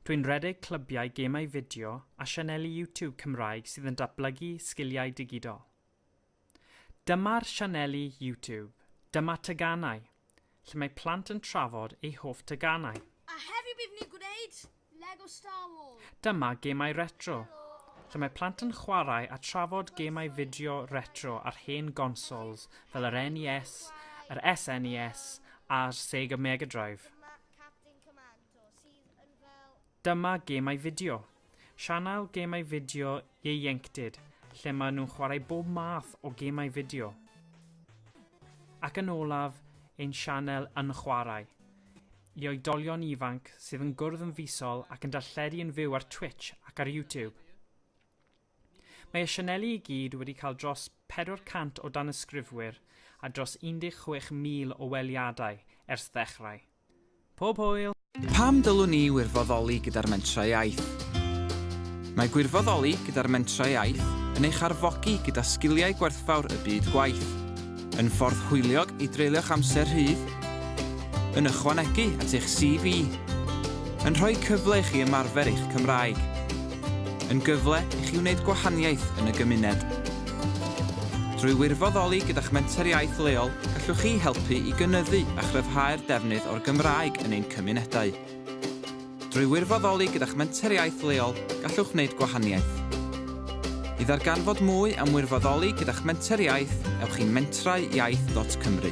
Dwi'n rhedeg clybiau gemau fideo a sianeli YouTube Cymraeg sydd yn datblygu sgiliau digidol. Dyma'r sianeli YouTube, Dyma Teganau, lle mae plant yn trafod eu hoff teganau. A heddiw bydd ni'n gwneud Lego Star Wars. Dyma Gemau Retro, lle mae plant yn chwarae a trafod gemau fideo retro ar hen gonsols fel yr NES, yr SNES a'r Sega Mega Drive. Dyma Gemau Fideo, sianel gemau fideo ieuenctid lle maen nhw'n chwarae bob math o gemau fideo. Ac yn olaf, ein sianel Yn Chwarae, i oedolion ifanc sydd yn gwrdd yn fisol ac yn darlledu yn fyw ar Twitch ac ar YouTube. Mae y sianeli i gyd wedi cael dros 400 o danysgrifwyr a dros 16,000 o weliadau ers ddechrau. Pob hwyl! Pam dylwn i wirfoddoli gyda'r Mentrau Iaith? Mae gwirfoddoli gyda'r Mentrau Iaith yn eich arfogi gyda sgiliau gwerthfawr y byd gwaith, yn ffordd hwyliog i dreulio'ch amser rhydd, yn ychwanegu at eich CV, yn rhoi cyfle i chi ymarfer eich Cymraeg, yn gyfle i chi wneud gwahaniaeth yn y gymuned. Drwy wirfoddoli gyda'ch Menter Iaith leol, gallwch chi helpu i gynyddu a chryfhau'r defnydd o'r Gymraeg yn ein cymunedau. Drwy wirfoddoli gyda'ch Menter Iaith leol, gallwch wneud gwahaniaeth. I ddarganfod mwy am wirfoddoli gyda'ch Menter Iaith, ewch i mentrauiaith.cymru.